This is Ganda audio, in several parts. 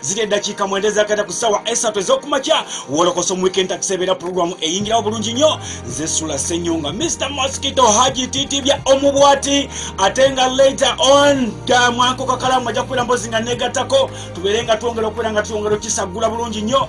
ziri eddakiika mwenda ezakata ku ssaawa esatu ez'okumakya wolokosa omuwikend takisebeera pulogulaamu eyingirawo bulungi nnyo nze sula senyonga mr mosquito haji titibya omubwati ate nga later on damwankokakalamu ajja kubeera mbozi nga negattako tubeere nga twongera okubeera nga tuyongera okisaggula bulungi nnyo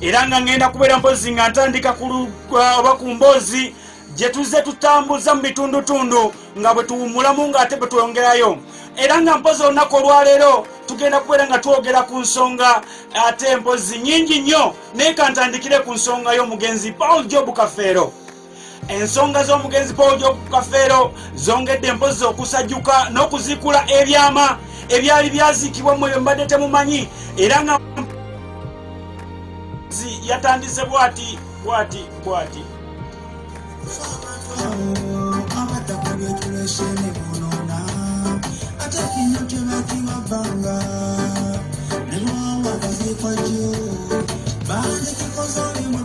era nga ngenda kubeera mpozi nga ntandika kulugwa oba ku mboozi gye tuzze tutambuza mu bitundutundu nga bwe tuwummulamu ng'ate bwe twongerayo era nga mpozi olunaku olwaleero tugenda kubeera nga twogera ku nsonga ate mpozi nyingi nnyo naye kantandikire ku nsonga y'omugenzi paul job kafeero ensonga z'omugenzi paul jobu kafeero zongedde empozi okusajuka n'okuziikula ebyama ebyali byaziikibwa mwe mbadde temumanyi era nga yatandise bwati bwati bwati Thank you.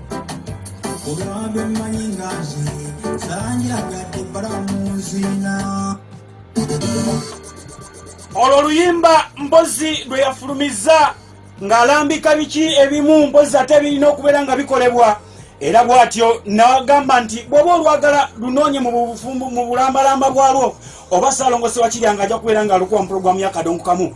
olwabyo mmanyi nga nze zanjagadde balamunzina olwo oluyimba mbozi lwe yafulumizza ng'alambika biki ebimu mbozi ate birina okubeera nga bikolebwa era bw'atyo nagamba nti bw'oba olwagala lunoonye mu bufumbu mu bulambalamba bwalwo oba saalongosewa kirya nga ajja kubeera ng'alukuwa mu pulogulaamu y'akadongo kamu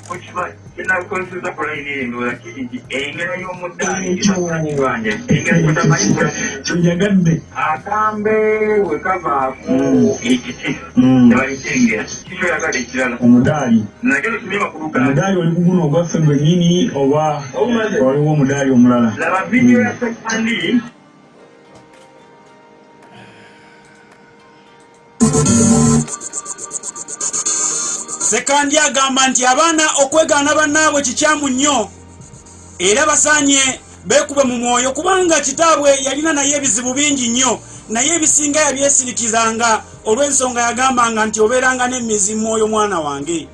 kyeyagadde akambe wekavaaku ekiti nebalikengera kikyoyagala ekirala omudaali omudaali oli kuguno ogwaffe gwenyini oba waliwo omudaali omulala laba vidiyo ya sekandi sekandi agamba nti abaana okwegaana bannaabwe kikyamu nnyo era basaanye beekube mu mwoyo kubanga kitaabwe yalina naye ebizibu bingi nnyo naye ebisinga yabyesirikizanga olw'ensonga yagambanga nti obeeranga n'emizi mwoyo mwana wange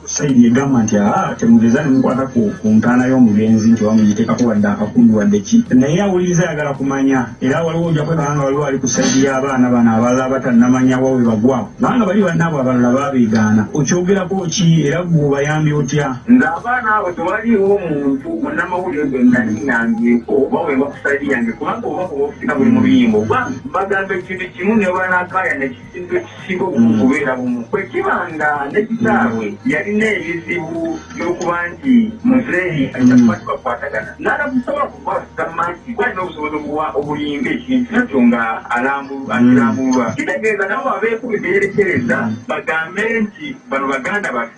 Sayidi egamba nti aa ah, temugeza nemukwata ku ntaana y'omugenzi nti oba mugitekako wadde akakundu wadde ki naye awuliriza ayagala kumanya era waliwo oja kwekanga nga waliwo ali ku sayidi y'abaana bano abalala abatannamanya wa we bagwa kubanga bali bannaabwe abalala babeegaana okyogerako ki era gwe obayambye otya ng'abaana abo tewaliwo muntu munnamawulire gwe naliyambyeko oba weba ku sayidi yange kubanga oba kuba okusika buli mubiyimbo oba bagamba ekintu kimu nebanakaaya neki ekintu ekisika okubeera bumu bwe kiba nga ne kitaabwe yalina ebizibu by'okuba nti muzeeyi aitakubakibakwatagana mm. nala busobola kukwasama nti kwalina obusobozi obuwa obulinga ekintu nakyo nga akirambulwa mm. kitegeeza nabo abeeku bye beerekereza bagambe nti bano baganda bafe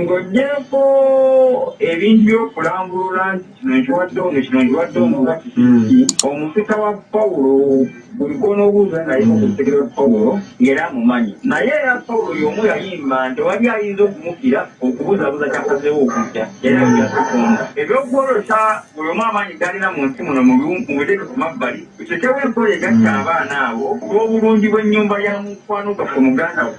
Ng'oggyeeko ebintu by'okulambulula nti kino nkiwadde ono, kino nkiwadde ono nga kiki kiki, omusika wa Pawulo buli gw'onoobuuza naye ku kutegeera kwa Pawulo ng'era amumanyi. Naye era Pawulo y'omu yayimba nti tewali ayinza okumukira okubuzaabuza ky'asazeewo okujja era ebyo bya Katonda. Eby'okwolesa buli omu amaanyi g'alina mu nsi muno mubiteeke ku mabbali, tuteekewo enkola egatta abaana abo ku lw'obulungi bw'ennyumba ya mukwano gwaffe muganda wo.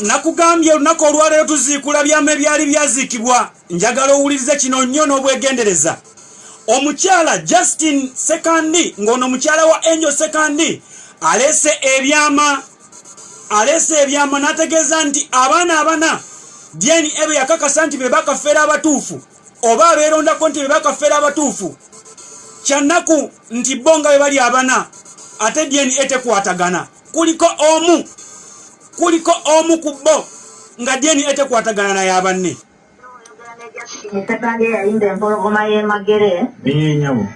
nakugambye olunaku olwaleero tuziikula byama ebyali byaziikibwa njagala owulirize kino nnyo n'obwegendereza omukyala justin sekandi ng'ono mukyala wa angel sekandi aleese ebyama aleese ebyama n'ategeeza nti abaana abana dna ebe yakakasa nti be bakafeera abatuufu oba abeerondako nti be bakafeera abatuufu kyannaku nti bo nga be bali abana ate dna tekwatagana kuliko omu kuliko omu ku bo nga dna tekwatagana naye abanne Musebange yayimba empologoma y'emagere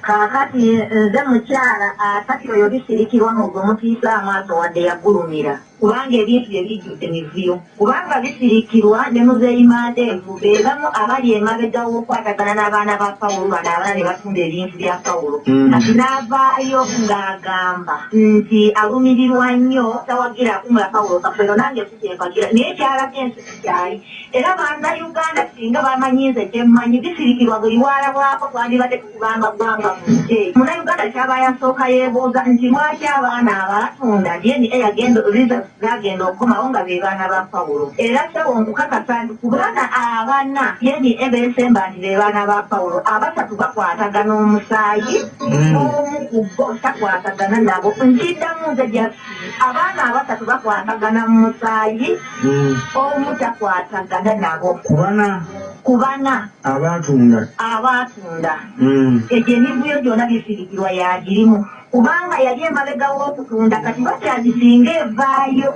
kaakati nze mukyala asati oyo bisirikirwa mu gwe mutiisa amaaso wadde yagulumira kubanga ebintu bye bijjudde mivuyo kubanga bisirikirwa ne muzeeyi mandeevu be bamu abali emabega w'okukwatagana n'abaana ba pawulo bano abana ne batunda ebintu bya pawulo mm. kati n'avaayo ng'agamba nti alumirirwa nnyo tawagira akumula pawulo kafero nange sikyempagira naye kyalaga ensi sikyali era banna uganda singa bamanyi nze kyemmanyi bisirikirwa buli waalabwako twandibadde kubanga ggwanga muggye. Munnayuganda ky'aba yasooka yeebuuza nti lwaki abaana abaatunda DNA yagenda results zaagenda okukomawo nga be baana ba Pawulo. Era ssebo nkukakasa nti ku baana abana DNA beesemba nti be baana ba Pawulo, abasatu bakwatagana omusaayi, hmm. omu ku bo takwatagana nabo. Nkiddamu nze just abaana abasatu bakwatagana mu musaayi, hmm. omu takwatagana nabo. Ku bana? Ku bana. Abaatunda? Abaatunda. munda mm. egyo emivuyo gyona bisirikirwa yagirimu kubanga yali emabega w'okutunda kati bakyazi singa evaayo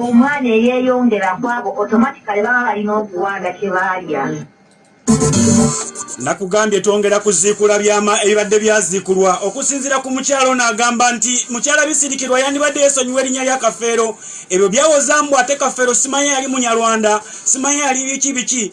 omwana eyeyongera kwabo otomatikale baba balina okuwanda kyebaalya nakugambye twongera kuziikula byama ebibadde byaziikulwa okusinziira ku mukyala ono agamba nti mukyala bisirikirwa yandibadde yesonyiwa erinnya lya kafeero ebyo byawozambu ate kafeero simanya yali munyarwanda simanya yali biki biki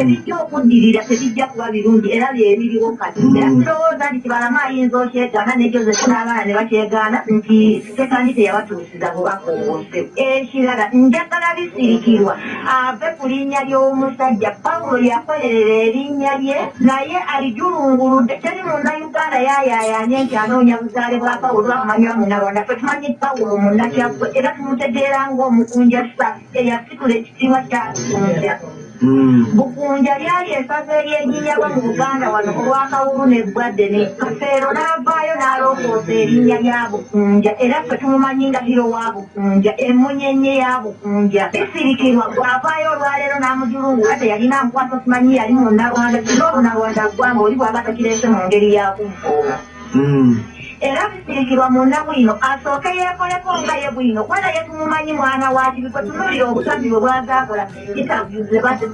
Ebijja okuddirira tebijja kuba birungi era bye biriwo kati. Era tulowooza nti Kibalama ayinza okyegaana ne Joseph n'abaana ne bakyegaana nti Sekandi teyabatuusiza bubaka obwo. Ekirala njagala Bisirikirwa ave ku linnya ly'omusajja. Pawulo yakolerera erinnya lye naye alijulunguludde. Teri Munnayuganda yaayaayanye nti anoonya buzaale bwa Pawulo amanywa Munnarwanda. Ffe tumanyi Pawulo Munnakyaggwe era tumutegeera ng'omukunja Sir. eyasitula ekitiibwa kya Bukunja. Hmm. Bukunja lyali esaza eryejinyabwa mu Buganda wano olw'akawubu n'eggwadde ne Kafeero n'avaayo n'alongoosa erinnya lya Bukunja era ffe tumumanyi nga hiro wa Bukunja emunyenye ya Bukunja bisirikirwa gw'avaayo olwaleero n'amujulungu nga teyalina amukwasa simanyi yali mu Nnalwanda singa obunalwanda ggwanga oli bwaba takireese mu ngeri ya kuvvoola. hmm. era kisirikirwa munda bwino asooke yeekoleko nga ye bwino kubana ye tumumanyi mwana wakibi kwe tunulira obusabi bwe bwazaakola intervyu zebadde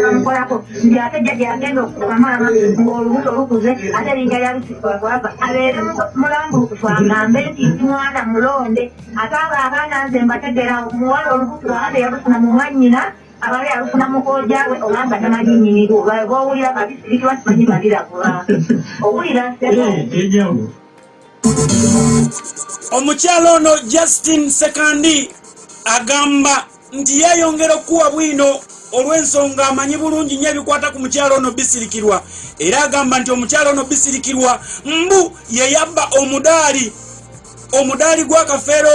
bamukolako nti ate jjaja yagenda okukuba maama ng'olubuto lukuze ate linga yalusikwagwava abeere mulambulukufu agambe nti nti mwana mulonde ate abo abaana nze mbategeera omuwala olubuto ate yabusina mu mwannyina abala yalufuna mukooja we oba nga tamanyi nyini lwo bwowulira nga bisirikirwa simanyi nga biragula owulira enjawulo omukyala ono justin sekandi agamba nti yeyongera okukuwa bwino olw'ensonga amanyi bulungi nnyo ebikwata ku mukyala ono bisirikirwa era agamba nti omukyala ono bisirikirwa mbu yeyabba omudaali omudaali gw'akafeero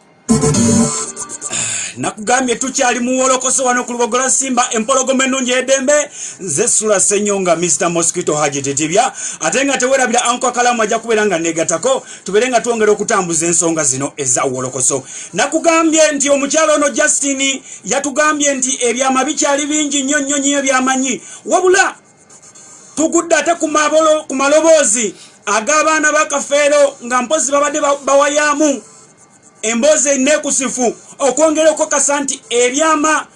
nakugambye tukyali muwolokoso wano ku lubogola simba empologoma ennungi edembe nze sula senyonga mr mosquito haji tetibya ate nga tewerabira anko akalamu ajja kubeera nga negatako tubeere nga twongera okutambuza ensonga zino eza wolokoso nakugambye nti omukyalo ono justin yatugambye nti ebyama bikyali bingi nnyo nnyo nnyo ebyamanyi wabula tugudde ate ku maloboozi ag'abaana ba kafeero nga mpozi babadde bawayaamu emboozi enekusifu okwongera okukakasa nti ebyama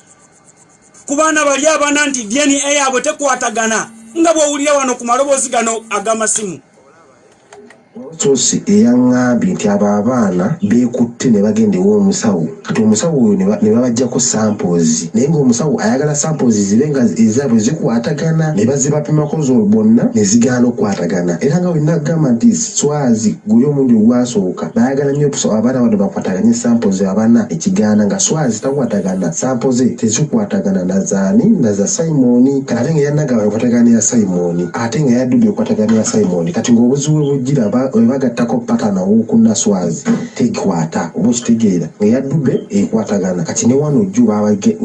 ku baana bali abana nti dna yaabwe tekwatagana nga bwowulira wano ku maloboozi gano ag'amasimu Source eyang'ambye nti abo abaana beekutte ne bagenda ew'omusawo kati omusawo oyo ne babaggyako samples naye ng'omusawo ayagala samples zibe nga ezaabwe zikwatagana ne bazibapimako bonna ne zigaana okukwatagana era nga bwe nagamba nti Swazi guli omulundi ogwasooka baayagala nnyo okusaba abaana bano bakwataganye samples abana ne kigaana nga Swazi takwatagana sampo ze tezikwatagana na zaani na za Simon kati ate nga yannagamba akwatagana ne ya Simon. ate nga yaddude okwatagana ya simon kati ngaobuzi we bujjira webagattako patana owokuna swazi tekwata oba okitegeera nga yaddude ekwatagana kati ne wano jju babage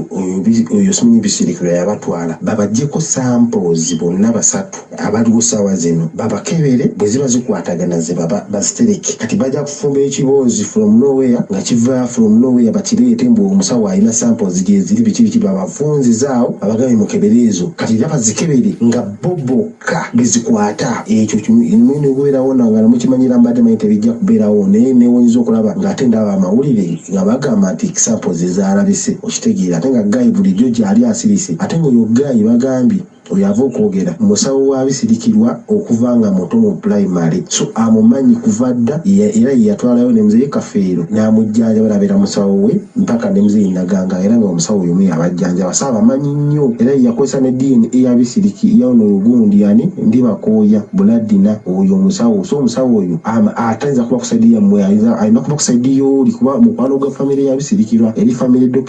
oyo simanyi bisirikiro yabatwala babajjeko samples bonna basatu abaliwo saawa zino babakebere bwe ziba zikwatagana zebaba bazitereke kati baja Fumba ekiboozi from no where nga kiva from no where bakireete mbu omusawo alina samples gyeziri biki biki babafunzize awo babagabe mukebere ezo kati era bazikebere nga bo bokka bezikwata ekyo muyina okubeerawo nga namukimanyira mbadde manyi tebijja kubeerawo naye newonyiza okulaba nga ate ndaba amawulire nga bagamba nti samples ezalabise okitegeera ate nga gayi bulijjo gyali asirise ate nga oyo gayi bagambye Oyo ava okwogera musawo wa bisirikirwa okuva nga muto mu pulayimale, so amumanyi kuva dda era ye yatwalayo ne Mzei Kafeero n'amujjanjaba n'abeera musawo we mpaka ne Mzei Naganga era ng'omusawo y'omu eyabajjanjaba so abamanyi nnyo era ye yakozesa ne DNA ya Bisiriki ya ono ogundi ani Ndibakooya Buladina oyo omusawo so omusawo oyo atayinza kuba ku sayidi yammwe alina kuba ku sayidi y'oli kuba mukwano gwa famire ya Bisirikirwa eri famire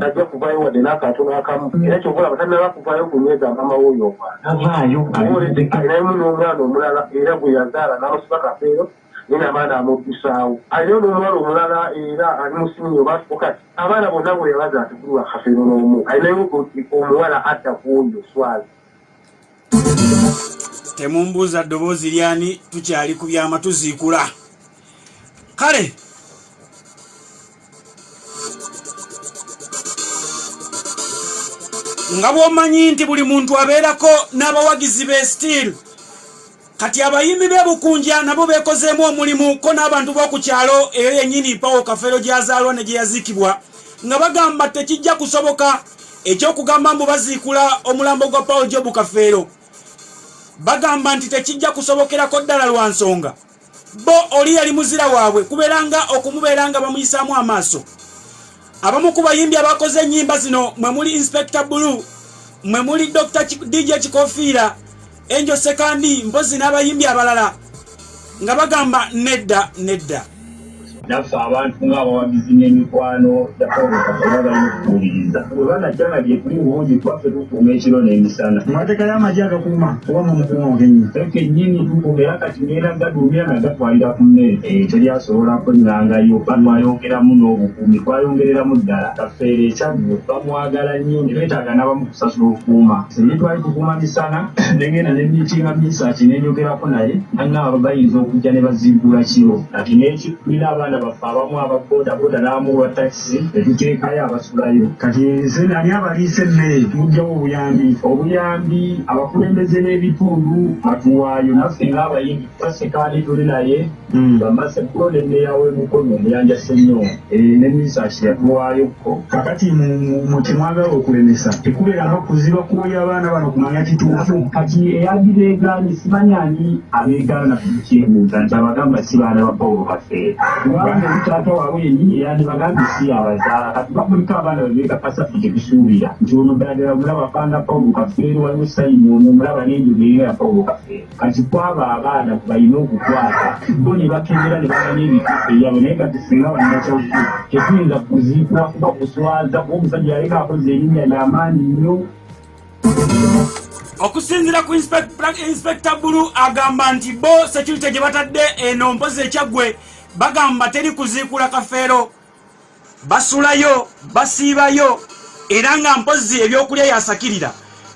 Tajja kuvaayo wadde n'akatono akamu, era ky'ova olaba tannaba kuvaayo kunyweza maama w'oyo omwana. Tavaayo, alina alinayo n'omwana omulala era gwe yazaala n'amusiba Kafeero naye n'abaana amuddusaawo. Alinayo n'omuwala omulala era ali mu siniya oba fokasi. Abaana bonna bwe yabazaala tekuli wa Kafeero n'omu. Alinayo omuwala adda ku oyo Swazi. temumbuuza ddoboozi lyani tukyali ku byama tuziikula kale nga bwomanyi nti buli muntu abeerako n'abawagizi be stiil kati abayimbi bebukunja nabo bekozeemu omulimu ko n'abantu b'oku kyalo eyo yennyini pawo kafeero gyazaalwa ne gye yaziikibwa nga bagamba tekijja kusoboka ekyokugamba mbu baziikula omulambo gwa paul jobu kafeero bagamba nti tekijja kusobokerako ddala lwa nsonga bo oli yali muzira waabwe kubeera nga okumubeera nga bamuyisaamu amaaso abamu ku bayimbi abakoze ennyimba zino mwe muli inspector bulu mwe muli dr dj kikofiira Angel Sekandi mpozi n'abayimbi abalala nga bagamba nedda nedda. Naffe abantu ng'abawagizi n'emikwano gyakabakaaabayifuuliriza bwe banajjana gye tuli bulungi twaffe tukuuma ekiro n'emisana mu mateeka y'amagye agakuuma oba mu mukuuma ogenyi fe kennyini tukuuma era kati neera gaduumira nga gatwalira ku mmere eyo teryasobola kwengangayo batwayongeramu n'obukuumi twayongereramu ddala kafeero ekyaggu bamwagala nnyo ne beetaaga n'abamu kusasula okukuuma Naye twali tuguma misana ne ngenda ne miitinga Mesach ne njogerako naye nang'amba bayinza okujja ne baziggula kiro kati n'eki tulina abaana baffe abamu aba bodaboda n'amu olwa takisi ne tuteekayo abasulayo. Kati nze nali abaliisa emmere tuggyawo obuyambi obuyambi abakulembeze b'ebitundu batuwaayo naffe ng'abayimbi tutaseka ani tuli naye. Hmm, bamaze kulo ne meeya w'e Mukono Muyanja Ssenyonga eh, ne minisita Kiyatuwaayo ko kakati mu kye mwagala okulemesa tekubeera nga kuziba kuwoya abaana bano kumanya kituufu kati eyagibeegaanye simanyi ani abeegaana kukyebuuza nti abagamba si baana ba Pawulo Kafeero kubanga omutaata waabwe yennyini eyandibagambye si abazaala kati bakuliko abaana bebeekakasa ffe tebisuubira nti ono ddala ddala omulaba fanga Pawulo Kafeero waliwo sayini ono omulaba n'enjogeera ya Pawulo Kafeero kati kwabo abaana balina okukwata bo ne bakebera ne bamanya ebituufu ebyabwe naye kati singa balinakyaki tetuyinza kuziikwa kuba kuswaza kuba omusajja yaleka akoze erinnya lyamaanyi nnyo okusinzira ku inspekta bulu agamba nti bo security gye batadde eno mpozi ekyaggwe bagamba teri kuziikula kafeero basulayo basiibayo era nga mpozzi ebyokulya yasakirira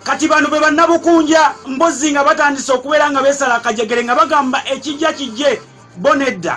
kati bano be bannabukunja mbozi nga batandise okubeera nga beesala akajegere nga bagamba ekijja kijje bo nedda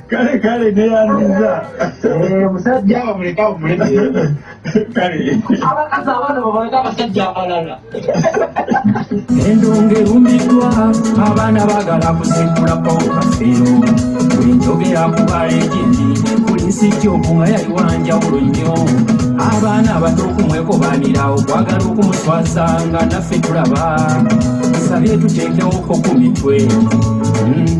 kale kale neyandiza eh, omusajja bamuleka bumuleka kale abakazi abaana babaleka abasajja abalala endonga erumiddwa abaana bagala kusekula paukafeero bwenjogera kuba egindi kulisi kyoku nga yali wanjawulo nnyo abaana abato okumwekobanira okwagala okumuswaza nga naffe tulaba tusabye tuteekewoko ku mitwe hmm,